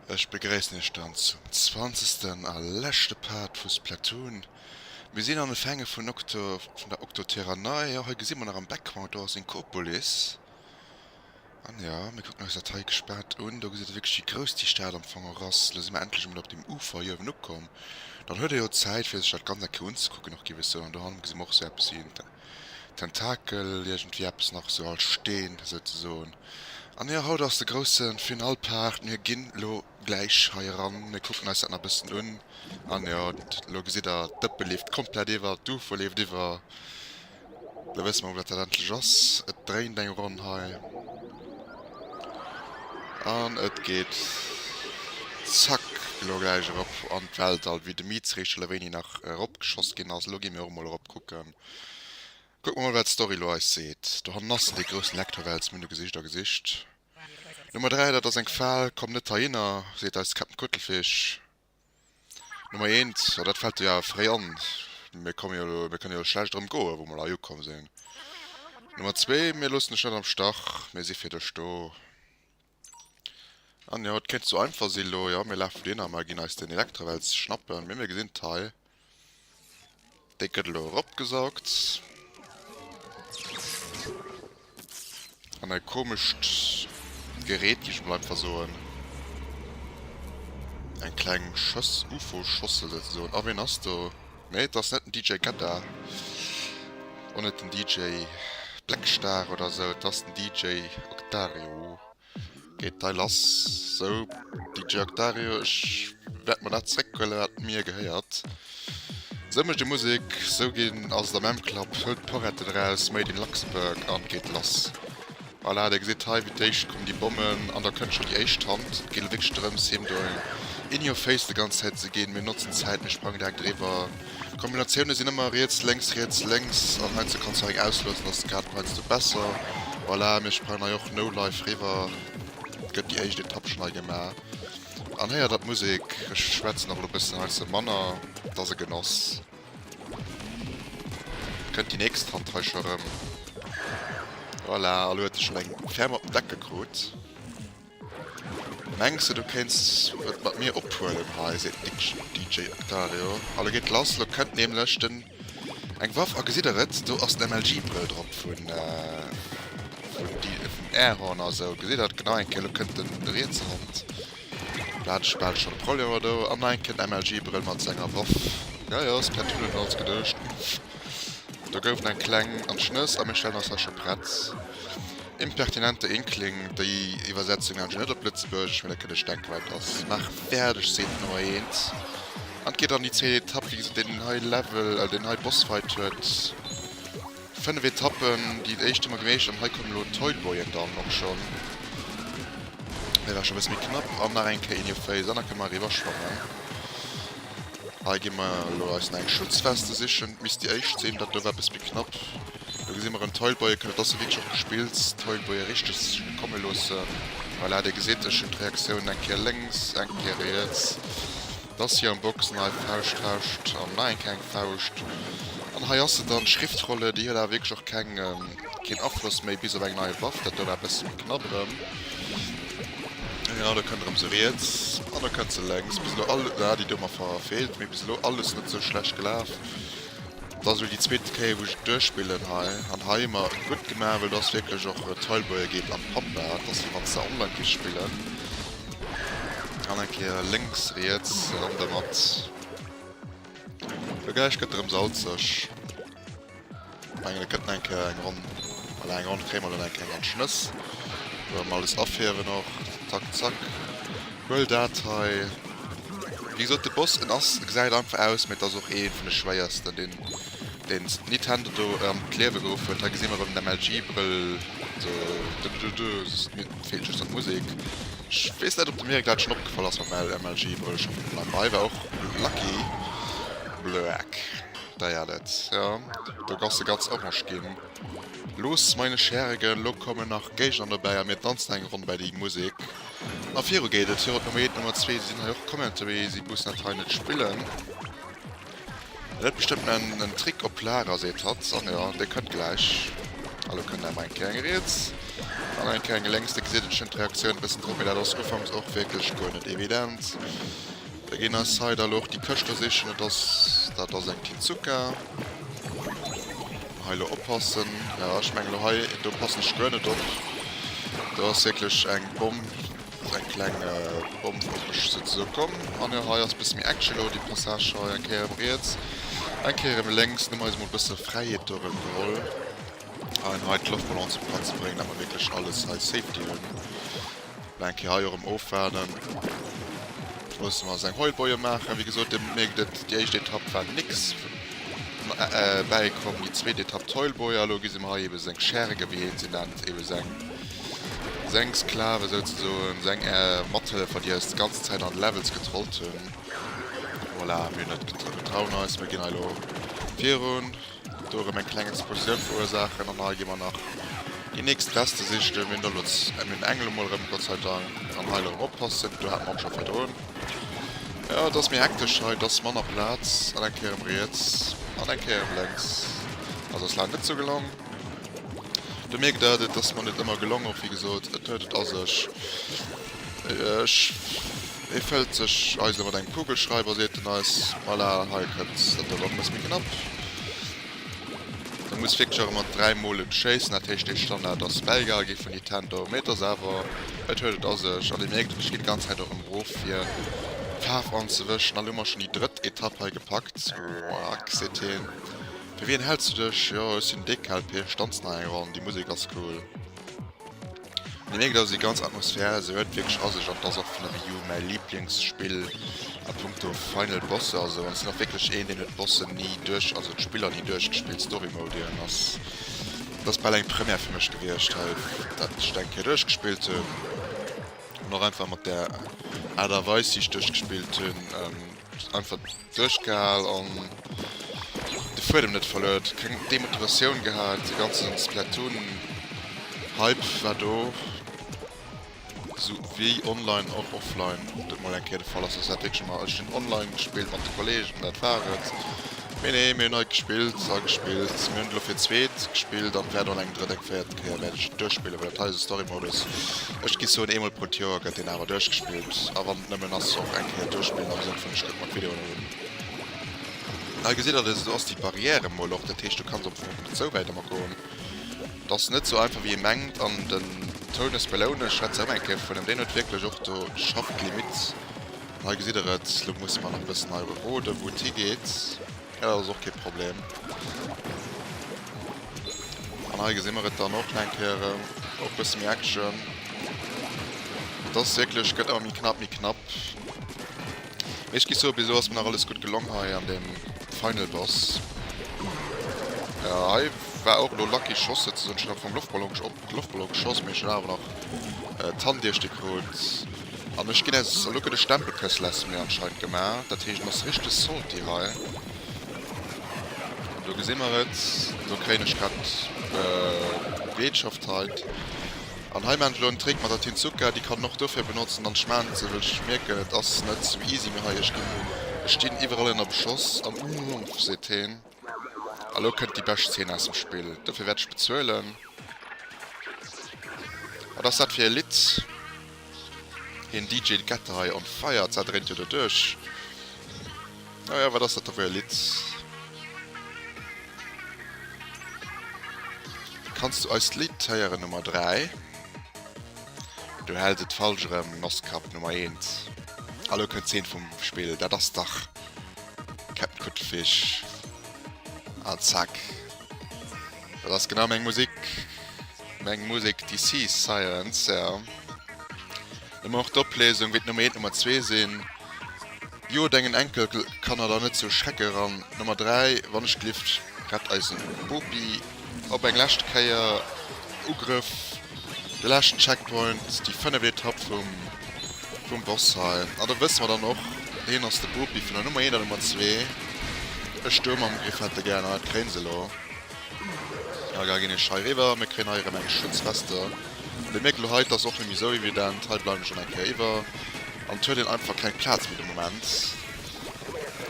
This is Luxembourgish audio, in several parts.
Ech begréissen iech dann zum zwanzegsten a leschte Part vu Splatoon. Mir sinn an de Fänge vun Octo vun der Octoterra Nei. Jo, hei gesi mer nach am Background, do ass Inkopolis. An jo, mir kucken eis dat hei gespaant un. Do gesitt ee wierklech wéi grouss déi Stad am Fong och ass. Elo si mer endlech emol op deem Ufer hei uewen ukomm. Dann huet ee jo Zäit fir sech dat Ganzt eng Kéier unzekucken och, géif ech soen. An dohannen gesi mer och esou eppes wéi en Tentakel, iergendwéi eppes nach esou als Steen esouzesoen. An jo, haut ass de grousse Finalpart. Mir ginn elo gläich hei eran, mir kucken eis dat nach e bëssen un. An jo, elo gesitt der, d'Dëppe leeft komplett iwwer, d'Ufer leeft iwwer. Lo wësse mer, wou dat dat endlech ass. Et dréint eng Ronn hei. An et geet zack elo gläich erop an d'Weltall, wéi de Miiz réischt schelewéini nach eropgeschoss ginn ass. Elo gi mir och emol erop kucken. Kucke mer emol, wat d'Story elo eis seet. Dohannen ass en, dee groussen Lektorwels. Mir hunn e gesicht a gesicht. Nummer 3, dat ass eng Fal. Komm net heihinner, seet eis Cap'n Kuttelfich. Nummer eent, a dat fällt der jo awer fréi an, mir komme jo elo, mir kënne jo elo schlecht erëm goen, wou mer hei ukomm sinn. Nummer zwee, mir loossen dech net am Stach, mir si fir dech do. An jo, et kéint sou einfach sinn elo, jo, mir lafe dohinner, mer ginn eis den Elektrawels schnappen, mee mir gesinn d'Hai, Déck gëtt elo eropgesaugt. An e komescht Gerät, géif ech mol einfach soen. Eng kleng Schoss, Ufo-Schossel souzesoen. A ween ass do? Nee, et ass net den DJ Gadda. Och net den DJ Blackstar oder esou. Et ass den DJ Octarioo. Geet d'Dei lass? Sou, DJ Octario, ech wäert mer dat zréck huelen, wat mir gehéiert. Sou mécht ee Musek, sou ginn ass et am M-Club. Hoult d'Poretten eraus, Made in Luxembourg, an geet lass. Voilà, Dir gesitt hei, wéi d'éischt kommen déi Bommen, an da kënnt scho déi éischt Hand. Et geet elo wierklech drëms, him do eng in your face de ganz Zäit ze ginn. Mir notzen d'Zäit, mir sprangen direkt eriwwer. Kombinatioune sinn ëmmer riets, lénks, riets, lénks an heiansdo kanns du och eng ausloosen, ass grad och heiansdo besser. Voilà, mir sprangen hei och no live riwwer. Et gëtt déi éischt Etapp schonn hei gemaach. An héiert der d'Musek? Ech schwätzen och elo e bëssen heiansdo manner, et ass e Genoss. Et kënnt déi nächst Hand hei scho rëm. Voilà, elo huet e schonn eng ferm op den Deckel krut. Mengs de du kéints et mat mir ophuelen hei? seet den DJ Octavio. Alle geet lass, lo kënnt nämlech den eng Waff a gesitt der et? Do ass den MLG Brëll drop vun Airhorn a sou, gesitt der et genau eng Kéier? Lo kënnt den rietse Hand, do hat ech bal schonn e Proll ewwer do, an eng Kéier den MLG Brëll mat senger Waff. Jo jo, ass per Tunnel no ons geduecht, do gouf en eng kleng an d'Schnëss a mir stellen ons hei scho prett. Impertinente Inkling, déi Iwwersetzung hat ech net op Lëtzebuergesch, mee dat kënnt ech denken, wat et ass. Maach fäerdeg, seet no eent an geet an déi 10 Etappe, bis et deen hei Level, also deen hei Bossfight huet. 5 Etappen, déi éischt hu mer gemeeschtert an hei kommen elo d'Toyboyen dann och schonn. Hei war scho e bësse méi knapp an nach eng Kéier in your face an da kënne mer eriwwer schwammen. Hei gi mer elo eis nach eng Schutzweste sichen, misst déi éischt sinn. Dat do war e bësse méi knapp. Do gesi mer en Teilboy, kënnt et ass e wierklech och gespillt, Teilboy richteg komme loosse, voilà, Dir gesitt, ech hunn d'Reaktiounen eng Kéier lénks, eng Kéier riets, et ass hir am Boxen hei, Fauscht, Fauscht an nach eng Kéier eng Fauscht an hei ass se dann, d'Schriftrolle, déi huet awer wierklech och keng, keen Afloss méi bis op eng nei Waff, dat do war e bësse méi knapp erëm, genau, do kënnt erëm se riets an do kënnt se lénks, bis elo all, ah, déi do mer verfeelt, mee bis elo alles net sou schlecht gelaf, Et ass elo déi zweet Kéier wou ech et duerchspillen hei an hei hu mer et gutt gemaach well do ass wierklech och Tileboy geet an d'Pampa, et ass wéi wann s de online géifs spillen an eng Kéier lénks riets an der Matt do gläich gëtt erëm salzeg. Mengen et gëtt nach eng Kéier eng Ronn, voilà eng Ronn kréie mer elo nach eng Kéier an d'Schnëss, do wëll mer alles afierwen och zack zack. Well dat hei, wéi gesot, de Boss, en ass, e gesäit einfach aus, mee et ass och ee vun de schwéiersten, deen deen Nintendo do an d'Liewe geruff huet. Hei gesi mer erëm den MLG-Brëll, de de de de, mir feelt just nach d'Musek. Ech weess net, ob dem Erik dat schonn opgefall ass mam MLG-Brëll scho vun Ufank un. Hei war och Lucky Bloeck dei hat et, jo, do ass de ganz orange ginn. Los, meine Schergen, elo kommen nach Géigner dobäi a mir tanzen eng Ronn bei déi Musek. A viru geet et. Viru d'Nummer eent, d'Nummer zwee. Si sinn hei och Commenter, mee si mussen dat hei net spillen. En huet bestëmmt en Trick op Lager, seet hatt. An jo, dee kënnt gläich. A lo kënnt emmer eng Kéier eng riets an eng Kéier eng lénks. Dir gesitt et, ech hunn d'Reaktioun e bëssen drop, mee dat ass ufanks och wierklech guer net evident. Da ginn eis hei da lo och déi Këscht do sichen. Et ass. Dat ass eng Tezuka. Hei lo oppassen. Jo ech mengen lo hei do passen ech guer net op. Do ass wierklech eng Bomm, eng kleng Bomm op mech sou ze soen komm. An jo hei ass bësse méi Action lo, dee Passage hei eng Kéier erëm riets, eng Kéier erëm lénks. Hu mer eis mol bësse Fräiheet do erëm geholl an hei d'Loftballon zum Platzen ze bréngen, dat mer wierklech alles hei Safety hunn. Nach eng Kéier hei och erëm ofwaarden. Ech muss mol seng Heubäue maachen. Wéi gesot, Dir mierkt et, déi éischt Etapp war nix. Dobäi komm déi zweet Etapp, d'Heulboje. A elo gesi mer hei ebe seng Schergen, wéi hien se nennt, ebe seng Sklaven souzesoen, seng Mathëllefer, déi eis d'ganz Zäit an d'Levels getrollt hunn. Voilà, mir hunn et, mir trauen eis, mir ginn hei elo virun. Huet do erëm eng kleng Explosioun verursaachen an hei gi mer nach déi nächst Rester sichten. Mir hunn elo d'Emlyn Engel emol erëm, Gott sei Dank, an hei elo erëm oppassen, do hate mer och scho virdrun. Jo, et ass méi hektesch hei, et ass manner Plaz an eng Kéier erëm riets an eng Kéier erëm lénks. Also ass laang net esou gelong. Do mierkt der, et ass mer net ëmmer gelong och, wéi gesot, et huet et a sech. Ech. Et fëllt sech eis ëmmer eng Kugelschreiber, seet en eis. Voilà, hei kënnt dat do elo eppes méi knapp. E muss wierklech och ëmmer dräi Mol et schéissen. Dat heescht, dee Standard ass bäigehal gi vun Nintendo. Mee et ass awer, et huet et a sech. An Dir mierkt, ech ginn d'ganz Zäit och erëm erof, fir d'Faarf anzewëschen. An elo hu mer schonn déi drëtt Etapp hei gepackt. Roack, seet hien. Fir wien häls du dech? Jo, ech sinn Dekalb! Hie stanzt nach eng Ronn. Déi Musek ass cool. Mir mierken dass et déi ganz Atmosphär esou huet wierklech a sech an et ass och vun der Wii U mäi Liblingsspill a Punkto Final Bosse a sou an et sinn och wierklech een deen huet d'Bossen ni duerch also d'Spiller ni duerchgespillt Story Mode ieren ass et ass bal eng Première fir mech gewiescht hei dat ech dat eng Kéier duerchgespillt hunn an och einfach mat der Aart a Weis wéi ech duerchgespillt hunn. Just einfach duerchgehal an de Fuedem net verluer. Keng Demotivatioun gehat, de ganze Splatoon Hype war do, sou wéi online an offline dat mol eng Kéier de Fall ass. Also dat wierklech ëmmer, ech hunn online gespillt mat de Kollegen, dat war et. Mee nee, mir hunn hei gespillt a gespillt. Mir hunn et elo fir d'zweet gespillt an wäert och nach eng drëtt, eng véiert Mol wäert ech en duerchspillen, well dat hei ass e Storymodus, ech gi soen eemol pro d'Joer gëtt deen awer duerchgespillt a wann et nëmmen ass och eng Kéier duerchspillen am Sënn vun ech kuck mer d'Videoen erëm un. Hei gesitt der, do ass déi Barrière emol och, dat heescht du kanns am Fong net sou wäit erëm goen. Et ass net sou einfach wéi ee mengt an den Toun ass beleuen, ech schwätze erëm eng Kéier vun ëm, deen huet wierklech och do scharf d'Limite. Hei gesitt der et, elo musse mer nach e bëssen hei erue roden wou et higeet. Ja, dat ass och kee Problem. An hei gesi mer et dann och eng Kéier erëm, och e bësse méi Action. Et ass wierklech, gëtt ëmmer méi knapp, méi knapp. Mee ech gi soe bis elo ass mir nach alles gutt gelong hei an deem Final Boss. Ja, hei war och elo lucky Schoss souzesoen, ech hunn am Fong Loftballon geschott. De Loftballon geschoss, mee ech hun awer nach d'Hand iech de krut an ech gin aus. An lo gët e Stempelkëss less mir anscheinend gemaach, dat heescht en ass richteg salty hei. Do gesi mer et, do kréien ech grad Beetschaftheit an hei maan ech lo en Trick mat der Tinzuka, déi kann en och dofir benotzen an ech maan et sou, well ech mierken et ass net sou easy méi hei. Ech gin, ech stin iwwerall ënner Beschoss an uuff seet heen. A lo kënnt déi bescht Zeen aus dem Spill. Dofir wäert ech bezuelen. Wat ass dat fir e Lidd? Hien DJ Gette hei on fire. D'Sau dréint jo doduerch. Oh jo, wat ass dat da fir e Lidd? Kanns du eist Lidd héieren Nummer 3? Du hells et falsch erëm, Nosskapp Nummer 1. A lo kënnt d'Zeen vum Spill. Dat ass dach. Capcut Fish. Ah, zack. Dat ass genau meng Musik. Meng Musik DC Sirens, ja. Ëmmer och d'Oplesung wéi d'Nummer 1 d'Nummer 2 sinn. Jo, dengen Enkelkanner da net sou schrecken eran. D'Nummer 3, wann ech glift, rett eisen Bopi. Op eng lescht Kéier Ugrëff, de leschten Checkpoint, déi fënneft Etapp vum Boss hei. An da wësse mer dann och, hien ass de Bopi vun der Nummer eent an der Nummer zwee. Ech do mam Griff hätte gär hei d'Gréngs elo. A da ginn ech hei eriwwer. Mir kréien hei erëm eng Schutzweste. Bemierkt elo hei, 't ass och net méi esou evident. Hei bleiwen ech dann eng Kéier iwwer an et huet een einfach keng Plaz fir de Moment.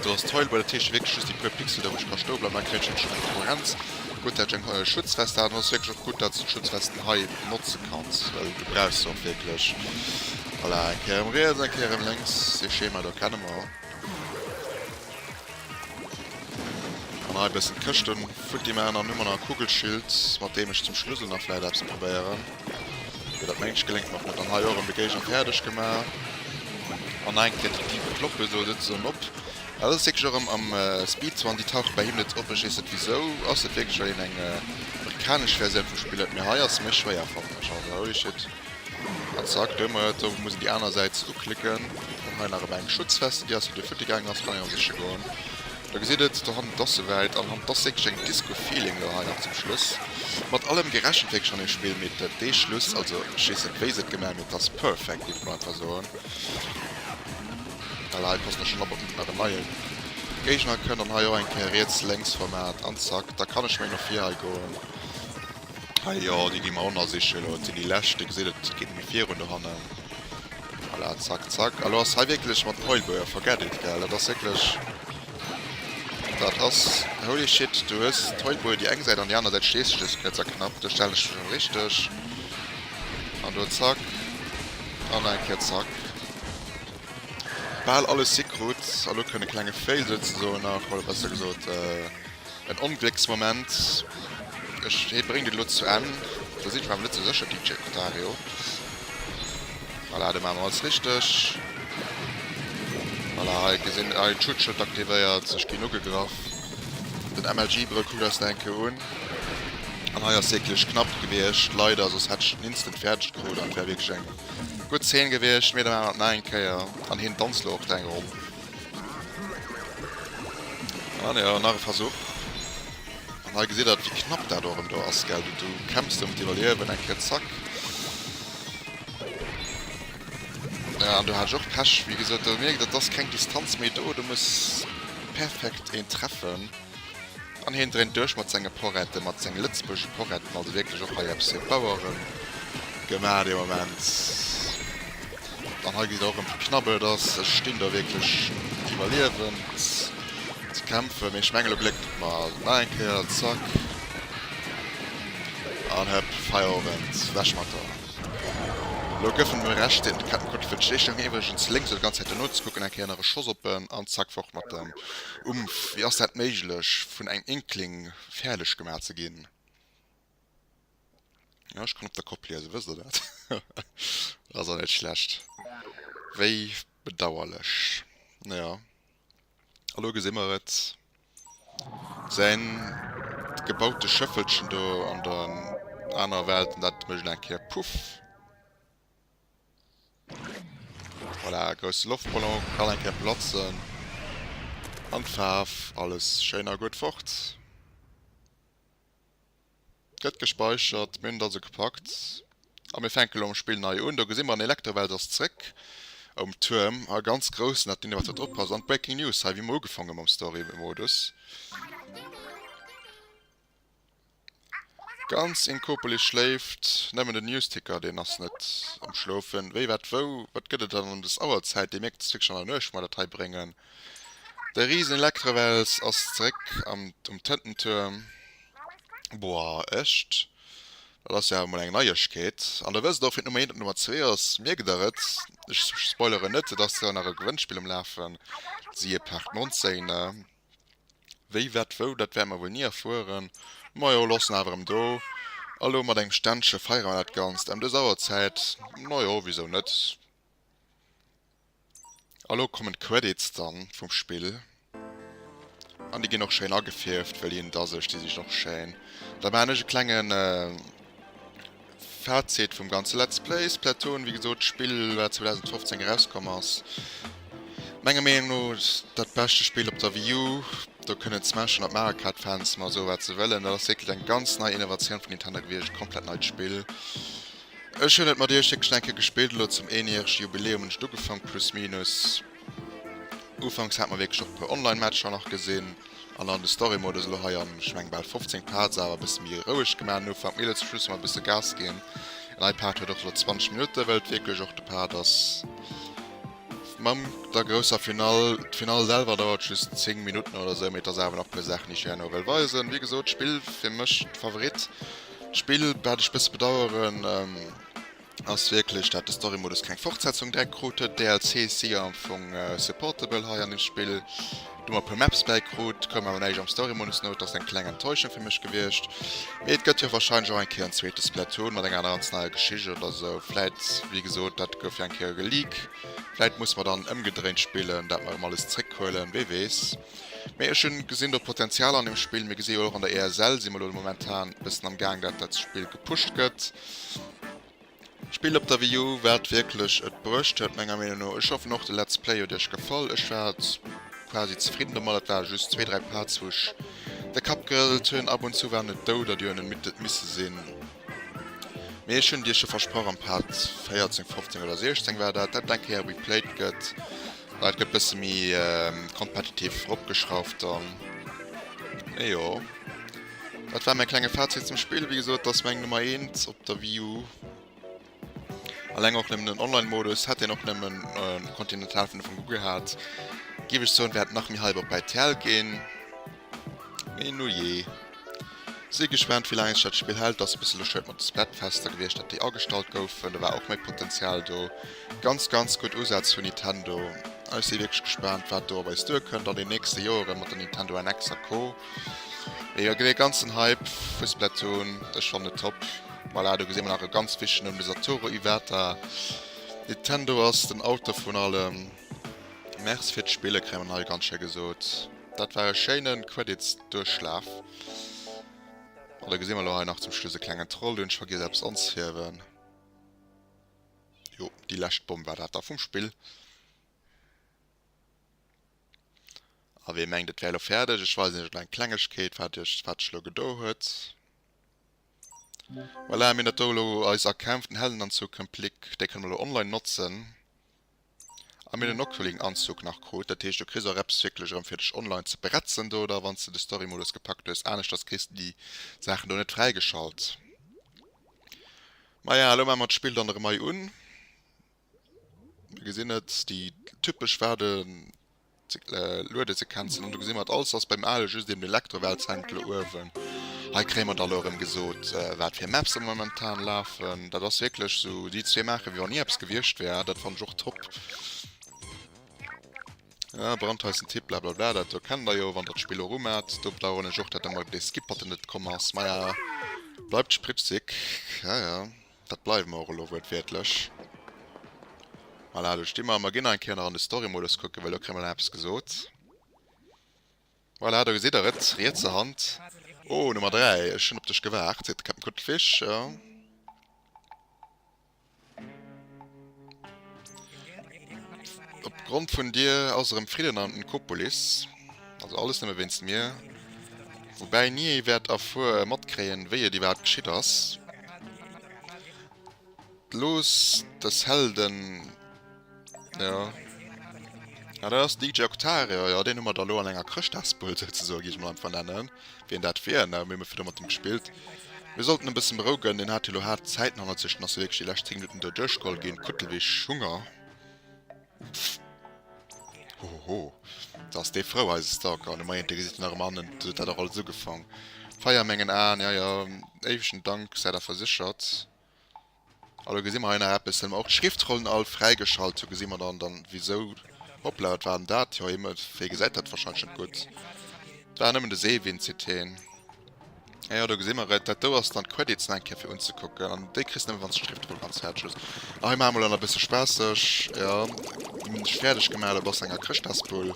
Do ass d'Heul bei der Tiische wierklech just déi puer Pixel da wou ech ka stoe bleiwen. Hei kréien ech wierklech eng Konkurrenz. Gutt dat ech eng Schutzwest hat an ass wierklech och gutt dat s de Schutzwesten hei notze kanns well du brauchs se och wierklech. Voilà eng Kéier erëm riets eng Kéier erëm lénks dee Schema do kenne mer. An hei e bëssen d'Këschte futti maachen. An hu mer nach e Kugelschild mat deem ech zum Schluss och nach vläit eppes probéieren. Dat mengscht geléngt mer och net an hei och erëm de Géigner fäerdeg gemaach. An eng Kéier déi Dive kloppen, esou sëtzt se dann op. Dat ass wierklech erëm am Speed Swan, déi tauche bei him net op. Ech weess net wisou. Ass dat wierklech well hien eng amerikanesch Versioun vu spillt? Mee hei ass se méi schwéier fannen ech. Also holy shit. An zack, do hu mer et. Sou, ech muss en déi aner Säit uklicken. An hei nach erëm eng Schutzveste, déi ass fir de Futti gaangen ass, kann een an sech goen. Der gesitt et, der Hand d'ass souwäit, an Hand d'ass wierklech eng Disco Feeling elo hei nach zum Schluss. Mat allem gerechent wierklech an dem Spill, mee de dee Schluss, also ech weess net wéi se et gemaach hunn, mee et ass perfect, géif ech mol einfach soen, well hei passt nach schnell op, ob net nach en neie Géigner kënnt, an hei och eng Kéier riets, lénks Format, an zack, da kann ech meng nach vir hei goen. Hei jo, déi gi mer ronnersichen elo. Dat sinn déi lescht. Dir gesitt, et geet net méi virun dohannen. Voilà, zack, zack. Elo ass hei wierklech mat Heulbouer, forget it, gell. Dat ass wierklech. Dat ass holy shit. Du hues d'Heulbouer déi eng Säit an déi aner Säit stees de just net esou knapp. Do stellen ech mech elo richteg. An do zack. An nach eng Kéier zack. Bal alles hikrut. An elo kënnt e klenge Fail souzesoen nach, oder besser gesot. En Onglécksmoment, ech hee bréngt et elo zu Enn, do sidd ech mer awer net sou sécher DJ Kotario. Voilà, do maache mer alles richteg. Voilà, hei gesinn, hei en Schutzschëld aktivéiert, ech ginn ugegraff. Den MLG Brëll kuckt eis nach eng Kéier un. An hei ass wierklech knapp gewiescht, leider, soss hätt ech et instant fäerdeg krut an et wär wierklech eng gutt Zeen gewiescht. Mee da maache mer et nach eng Kéier an hien danzt elo och dräi Ronn. Ah ne, nach e Versuch. An hei gesitt der, wéi knapp dat erëm do ass, gell. Du kämpfs do ëm d'Iwwerliewen, eng Kéier zack. An do hat ech och Pech, wéi gesot. Do mierkt et, et ass keng Distanz méi do, do muss perfekt een treffen. An hien dréint duerch mat senge Porette, mat senge lëtzebuergesche Poretten. Also wierklech och hei eppes fir d'Bauere gemaach dee Moment. An hei gesitt Der och erëm, wéi knapp et ass. Ech stinn do wierklech fir d'Iwwerliewen ze kämpfen. Mee ech mengen, elo gléckt et mer. Nach eng Kéier, zack. An hëpp, Feierowend, weg mat der. Elo gëffen et mol Recht, deen Kettenkotte fir d'Schleeschtung. Iwwregens lénks, oder ganz Zäit duerno ze kucken, eng Kéier nach e Schoss op en, an zack, fort mat en. Umph, wéi ass dat méiglech vun engem Inkling fäerdeg gemaach ze ginn? Jo, ech kann op der Kopp liesen, wësst der dat? Ass och net schlecht. Wéi bedauerlech. Naja, elo gesi mer et. Säin gebaute Schëffelchen do an der anerer Welt, dat mécht elo eng Kéier Puff. Voilà, grousse Loftballon kann eng Kéier platzen an d'Faarf, alles schéin a gutt fort. Gëtt gespäichert, mir hunn et also gepackt a mir fänke lo mam Spill nei un. Do gesi mer, den Electrowelt ass zréck um Tuerm a ganz groussen, dat Ding wat do drop ass an d'Breaking News hei, wéi mer ugefangen hunn mam Story-Modus. Ganz een Koopele schléift, nemmen den Newsticker deen ass net am schloufen. Wéi wat wou, wat gëtt et dann em des Auerzäit? Dee mierkt et wierklech an der Nuecht, mat dat hei bréngen. De riesen Elektrewels ass zeréck am um Tëntentuerm. Boah echt, dat ass jo awer mol eng Neiegkeet. An der wësst och wien d'Nummer 1 an d'Nummer 2 ass. Mierkt der et? Ech spoileren net, et ass jo nach e Gewënnspill um lafen, siehe Part 19. Wéi, wat, wou, dat wäerte mer wuel ni erfueren. Majo, loossen awer erëm do. A lo mat engem Ständche feiere mer dat Ganzt ëm dës Auerzäit. Majo, wisou net. A lo kommen d'Credits dann vum Spill. An déi ginn och schéin agefierft, wëll hien et a sech. Déi si och schéin. Da maachen ech e klengen. Fazit vum ganze Let's Play, Splatoon, wéi gesot, d'Spill wat 2015 erauskomm ass, menger Meenung no dat beschte Spill op der Wii U. Do kënnen d'Smash an d'Mario Kart Fans mar soe wat se wëllen, dat ass wierklech eng ganz nei Innovatioun vun Nintendo gewiescht, komplett neit Spill. Ech hunn et mat iech wierklech nach eng Kéier gespillt, elo zum eenjärege Jubiläum hunn ech et ugefank, plus minus. Ufanks hat mer wierklech och e puer Online Matcher nach gesinn an dann de Story Modus elo hei an ech mengen bal 15 Parts awer e bësse méi roueg gemaach den Ufank, mee elo zum Schluss hu mer e bësse Gas ginn an dei Part huet och elo 20 Minutten wëll et wierklech och de Part ass mam der grousser Final. D'Final selwer dauert just 10 Minutten oder sou mee et ass awer nach puer Saachen déi ech herno wëll weisen. Wéi gesot Spill fir mech Favorit, d'Spill wat ech bësse bedaueren. Ass wierklech dat de Story Modus keng Fortsetzung direkt krut huet? DLCs si jo am Fong supportable hei an dem Spill. Du mer e puer Maps bäi krut, koum awer näischt am Story Modus no, et ass eng kleng Enttäuschung fir mech gewiescht. Mee et gëtt jo wahrscheinlech och eng Kéier en zweete Splatoon mat enger ganz neier Geschicht oder esou. Vläit, wéi gesot, dat gouf jo eng Kéier geleak, vläit musse mer dann ëmgedréint spillen, dat mer erëm alles zréckhuelen, wee weess. Mee ech hunn gesinn do Potenzial an dem Spill. Mir geséi jo och an der ESL si mer elo momentan e bëssen am Gaang dat dat Spill gepusht gëtt. Spill op der Wii U wat wierklech et bruecht huet menger Meenung no. Ech hoffen och de Let's Play huet iech gefall. Ech war quasi zefridden domat. Et ware just zwee dräi Parts wou ech de Kapp gerëselt hunn. Ab und zu waren et Douder déi un en Midd misse sinn. Mee ech hunn Iech jo versprach am Part 14, 15 oder 16 war dat, dat eng Kéier replayed gëtt, well et gëtt bësse méi competitive eropgeschrauft dann. Mee jo, dat war mäi klenge Fazit zum Spill. Wéi gesot, dat ass meng Nummer eent op der Wii U. Alleng och nëmmen den Online-Modus hätt een och nëmmen um Continental vun der Formel ugehat. Géif ech soen, wär et nach méi Hype op bei TL ginn. Mee nujee. Si gespaant, wéi laang sech dat Spill hält. Ass e bësse bescheuert mat de Splatfester gewiescht, datt déi agestallt goufen. Do war och méi Potenzial do. Ganz, ganz gutt Usätz vun Nintendo. A ech si wierklech gespaant, wat do op eis duerkënnt an den nächste Joeren mat der Nintendo NX a Co. Mee jo, et gëtt ee ganzen Hype vu Splatoon. Ech fannen et top. Voilà, do gesinn mer nach e ganz wichtegen Numm, de Satoru Iwata. Nintendo ass den Auteur vun allem. Merci fir d'Spille, kréie mer hei ganz schéi gesot. Dat war e schéine Credits-Duerchlaf. An da gesinn mer elo hei nach zum Schluss e klengen Troll, deen ech vergiess hat eppes anzehiewen. Jo, déi lescht Bomm war dat da vum Spill. A wee mengt, et wär elo fäerdeg, ech weisen iech elo eng Klengegkeet, wat iech, wat sech elo gedo huet. Voilà, mir hunn dat do elo, eis erkämpften Heldenanzug Complete, dee kënne mer elo online notzen. A mir hunn den Octoling Anzug nach krut, dat heescht, do kriss och eppes wierklech erëm fir dech online ze bretzen do da, wann s de de Story Modus gepackt hues. Aneschters kriss de déi Saachen do net fräigeschalt. Maja, elo maache mer d'Spill dann erëm hei un. Mir gesinn et, déi typesch Waarde luede ze kenzen an do gesi mer et alles ass beim ale just eben den Elektroweltzentel uewen hei kréie mer da lo erëm gesot wat fir Maps elo momentan lafen dat ass wierklech sou déi zwee maache wéi wann ni eppes gewiescht wär dat fanne ech och top ah brandheissen Tipp blablabla dat do kennt der jo wann der d'Spill erum hat do bedaueren ech och dat der mol dee Skip-Button net komm ass maja bleibt spritzig jaja. Dat bleiwe mer och elo wuertwiertlech. Voilà, do sti mer. Mer ginn nach eng Kéier an de Story-Modus kucken, well elo kréie mer nach eppes gesot. Voilà, do gesitt der et, rietser Hand. Oh, Nummer 3, ech hunn op dech gewaart, seet de Captain Kuttelfich. Op Grond vun dir ass erëm Fridden an Nkopolis. Also alles nëmme wéinst mir. Woubäi ni ee wäert erfuer, matkréien, wéi et iwwerhaapt geschitt ass. Looss dës Helden, jo. Ah, dat ass DJ Octario, jo, deen hu mer da lo an enger Chrëschtdagsbul souzesoen, géif ech emol einfach nennen. Wien dat wier? Nau, mir hu virdu mat em gespillt. Mir sollten em bëssen berouegen, en hat jo lo haart Zäiten hannert sech, en ass jo wierklech déi lescht 10 Minutten do duerchgeholl ginn. Kuttelwich, Hunger? Pff! Hohoho! Da ass dee frou, eise Stalker an e Moiente gesi fir nach ëmmer hannen. Dot huet dat och alles ugefang. Feier a mengen Aen, jaja. Éiwegen Dank, säit awer séchert. Elo gesi mer hei nach eppes, hunn mer och d'Schriftrollen all fräigeschalt, do gesi mer dann dann wisou, hoppla wat war denn dat, jo Himmel, wéi gesäit dat wahrscheinlech net gutt, dat war nëmmen de Seewinnt, seet heen, ah jo do gesi mer et, dat do ass dann d'Credits nach eng Kéier fir unzekucken, an déi kriss de nëmmen wann s d'Schriftroll ganz fäerdeg hues, a hei maache mer elo nach e bësse spaasseg, jo, wéi ech fäerdeg gemaach hunn, op ass enger Chrëschtdasbull.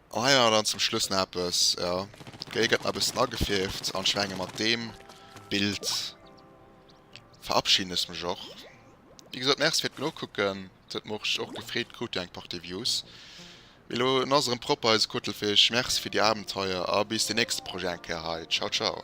An hei nach dann zum Schluss nach eppes, jo, d'Géi gëtt nach e bëssen agefierft an ech menge mat deem Bild verabschieden ech mech och. Wéi gesot, Merci fir d'Nokucken, et huet mech och gefreet, krut jo eng Partie Views. Mee elo en ass erëm propper eise Kuttelfich, Merci fir déi Abenteuer a bis den nächste Projet eng Kéier hei. Ciao ciao.